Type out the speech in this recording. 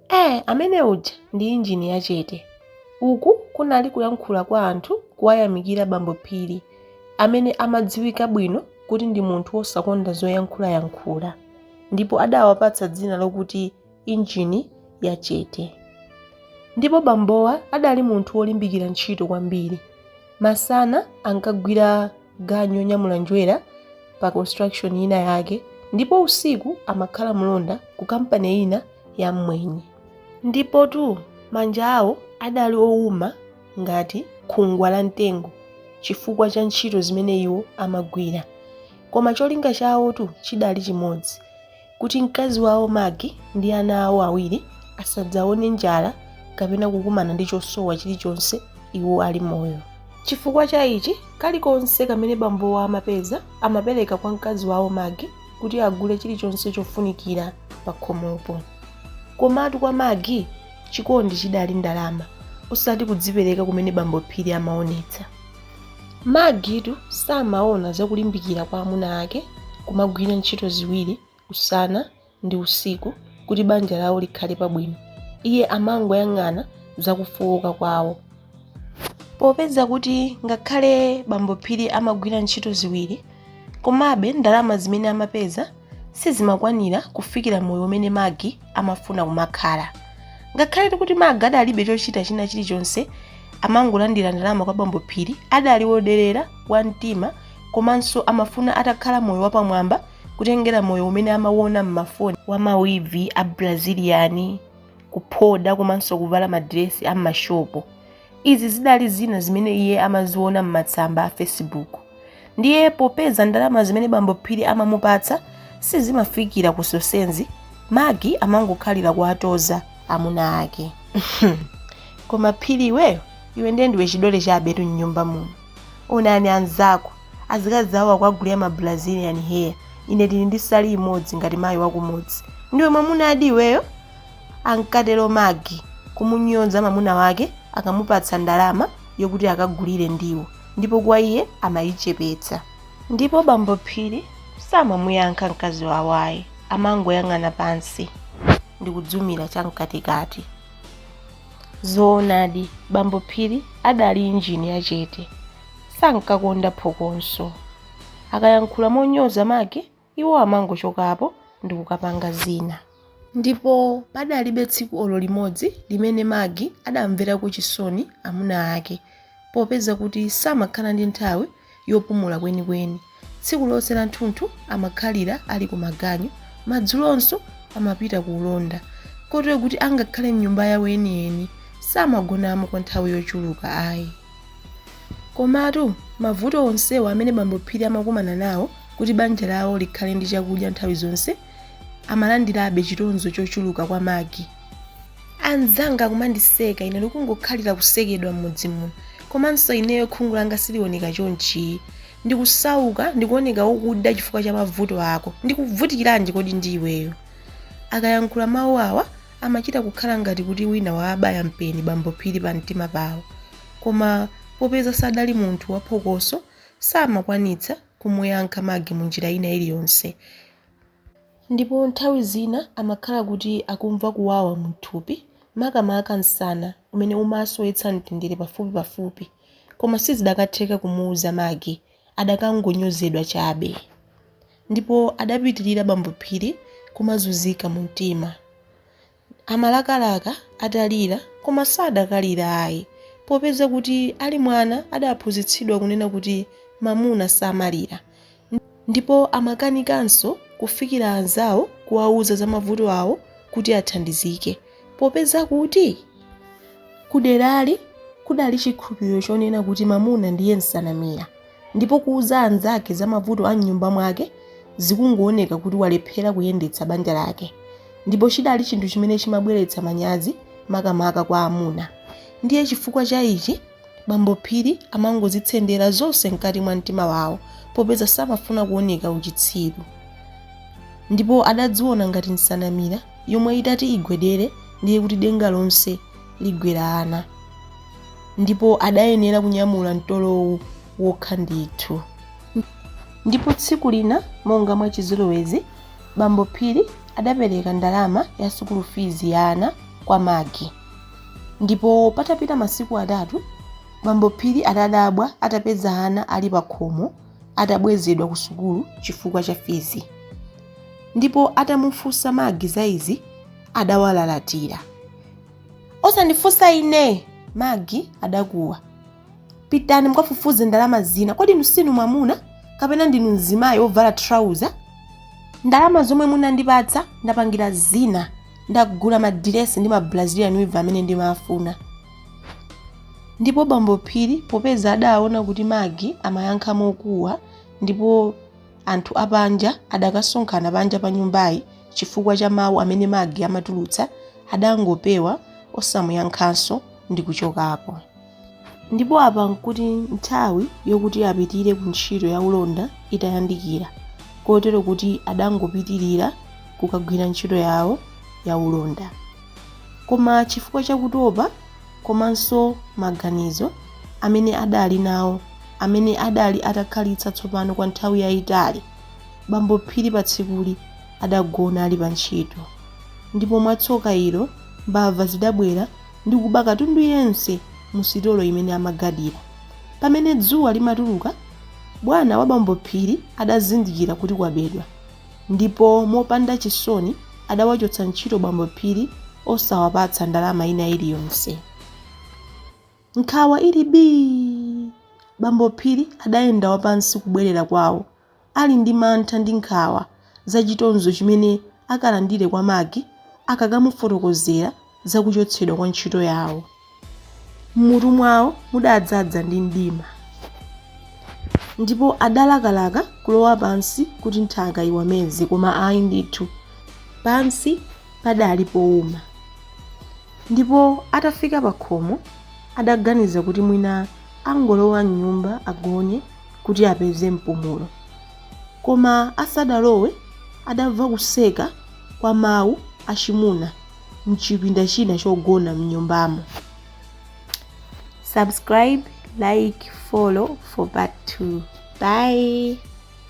Eh, amene uja ndi injini yachete. Uku kunali kuyankhula kwa anthu kuwayamikira bambo Phiri amene amadziwika bwino kuti ndi munthu wosakonda zoyankhulayankhula ndipo adawapatsa dzina lokuti injini yachete. Ndipo bambowa adali munthu wolimbikira ntchito kwambiri. Masana ankagwira ganyu yonyamula njerwa pa construction ina yake ndipo usiku amakhala mlonda ku kampani ina ya mmwenye ndipotu manja awo adali owuma ngati khungwa la mtengo chifukwa cha ntchito zimene iwo amagwira koma cholinga chawotu chidali chimodzi kuti mkazi wawo Maggie ndi ana awo awiri asadzaone njala kapena kukumana ndi chosowa chilichonse iwo ali moyo. Chifukwa cha ichi, kalikonse kamene bambowo amapeza amapereka kwa mkazi wawo Maggie kuti agule chilichonse chofunikira pakhomopo. Komatu kwa Maggie, chikondi chidali ndalama, osati kudzipereka kumene bambo Phiri amaonetsa. Maggietu samaona za kulimbikira kwa amuna ake kumagwira ntchito ziwiri usana ndi usiku kuti banja lawo likhale pabwino. Iye amangoyang'ana za kufooka kwawo. Popeza kuti ngakhale bambo Phiri amagwira ntchito ziwiri, komabe ndalama zimene amapeza sizimakwanira kufikira moyo umene Maggie amafuna kumakhala. Ngakhaletu kuti Maggie adalibe chochita china chilichonse, amangolandira ndalama kwa Bambo Phiri, adali woderera, wamtima, komanso amafuna atakhala moyo wapamwamba kutengera moyo umene amauona m'mafoni, wa mawivi a Brazilian, kuphoda komanso kuvala madiresi a m'mashopu. Izi zidali zina zimene iye amaziona m'matsamba a Facebook. Ndiye popeza ndalama zimene bambo Phiri amamupatsa sizimafikira ku zonsezi, Maggie amangokhalira kuwatoza amuna ake. Koma Phiri iweyo, iwe ndiye ndiwe chidole chabetu m'nyumba muno. Onani anzako, azikazi awo akuwagulira ma Brazilian hair, ine ndili ndi salu imodzi ngati mayi wakumudzi. Ndiwe mwamunadi iweyo? ankatero Maggie, kumunyonza mamuna wake akamupatsa ndalama yokuti akagulire ndiwo ndipo kwa iye amayichepetsa. Ndipo bambo Phiri samamuyankha mkazi wawo ayi, amangoyang'ana pansi ndikudzumira chamkatikati. Zoonadi, bambo Phiri adali injini yachete, sankakonda phokoso. Akayankhula monyoza Maggie Iwo amangochokapo ndi kukapanga zina. Ndipo padalibe tsiku olo limodzi limene Maggie adamverako chisoni amuna ake, popeza kuti samakhala ndi nthawi yopumula kwenikweni. Tsiku lonse lanthunthu amakhalira ali ku maganyu, madzulonso amapita ku ulonda, kotero kuti angakhale m'nyumba yawo yeniyeni, samagonamo kwa nthawi yochuluka ayi. Komatu mavuto onsewa amene bambo Phiri amakumana nawo Kuti banja lawo likhale ndi chakudya nthawi zonse, amalandirabe chitonzo chochuluka kwa Maggie. Anzanga akumandiseka ine ndikungokhalira kusekedwa m'mudzi muno. Komanso ineyo khungu langa silioneka chonchi. Ndikusauka, ndikuoneka wokuda chifukwa cha mavuto ako. Ndikuvutikiranji kodi ndi iweyo? Akayankhula mawu awa, amachita kukhala ngati kuti wina waabaya mpeni bambo Phiri pamtima pawo. Koma popeza sadali munthu waphokoso, samakwanitsa kumuyankha Maggie munjira ina iliyonse ndipo nthawi zina amakhala kuti akumva kuwawa mthupi makamaka msana umene umawasowetsa mtendere pafupi pafupi koma sizidakatheka kumuuza Maggie akadangonyozedwa chabe ndipo adapitilira bambo Phiri kumazunzika mumtima Amalakalaka atalira, koma sadakalira ayi. Popeza kuti ali mwana adaphunzitsidwa kunena kuti mamuna samalira. Ndipo amakanikanso kufikira anzawo kuwauza za mavuto awo kuti athandizike. Popeza kuti kuderali kudali chikhulupiriro chonena kuti mamuna ndiye nsanamira. ndipo kuuza anzake za mavuto a m'nyumba mwake zikungooneka kuti walephera kuyendetsa banja lake ndipo chidali chinthu chimene chimabweretsa manyazi makamaka kwa amuna ndiye chifukwa cha ichi bambo phiri amangozitsendera zonse mkati mwa mtima wawo popeza samafuna kuoneka uchitsiru ndipo adadziona ngati nsanamira yomwe itati igwedere ndiye kuti denga lonse ligwera ana ndipo adayenera kunyamula mtolowu wokha ndithu ndipo tsiku lina monga mwachizolowezi bambo phiri adapereka ndalama ya sukulu fizi ya ana kwa magi ndipo patapita masiku atatu bambo phiri adadabwa atapeza ana ali pakhomo atabwezedwa ku sukulu chifukwa cha fizi ndipo atamufunsa magi za izi adawalalatira Osandifunsa ine! Maggie adakuwa. Pitani mukafufuze ndalama zina. Kodi inu sinu mwamuna? Kapena ndinu mzimayi wovala trouser? Ndalama zomwe munandipatsa ndapangira zina. Ndagula madiresi ndi mabrazilian weave amene ndimafuna. Ndipo bambo Phiri popeza adaona kuti Maggie amayankha mokuwa ndipo Anthu apanja adakasonkhana panja pa nyumbayi chifukwa cha mawu amene Magi amatulutsa adangopewa osamuyankhanso ndi kuchokapo. Ndipo apa n'kuti nthawi yokuti apitire ku ntchito ya ulonda itayandikira kotero kuti adangopitirira kukagwira ntchito yawo ya ulonda. Koma chifukwa cha kutopa, komanso maganizo amene adali nawo amene adali atakhalitsa tsopano kwa nthawi yayitali, bambo Phiri patsikuli adagona ali pa ntchito ndipo mwa tsoka ilo, mbava zidabwera ndi kuba katundu yense mu sitolo imene amagadira. Pamene dzuwa limatuluka bwana wa bambo Phiri adazindikira kuti kwabedwa. ndipo mopanda chisoni adawachotsa ntchito bambo Phiri osawapatsa ndalama ina iliyonse. Nkhawa ili bii, bambo Phiri adayenda wapansi kubwerera kwawo ali ndi mantha ndi nkhawa za chitonzo chimene akalandire kwa Magi akakamufotokozera za kuchotsedwa kwa ntchito yawo. M'mutu mwawo mudadzadza ndi mdima, ndipo adalakalaka kulowa pansi kuti nthaka iwameze, koma ayi ndithu, pansi padali pouma. Ndipo atafika pakhomo, adaganiza kuti mwina angolowa m'nyumba agone kuti apeze mpumulo. Koma asadalowe adamva kuseka kwa mawu achimuna. m'chipinda china chogona m'nyumbamo. Subscribe, like, follow for part 2. Bye!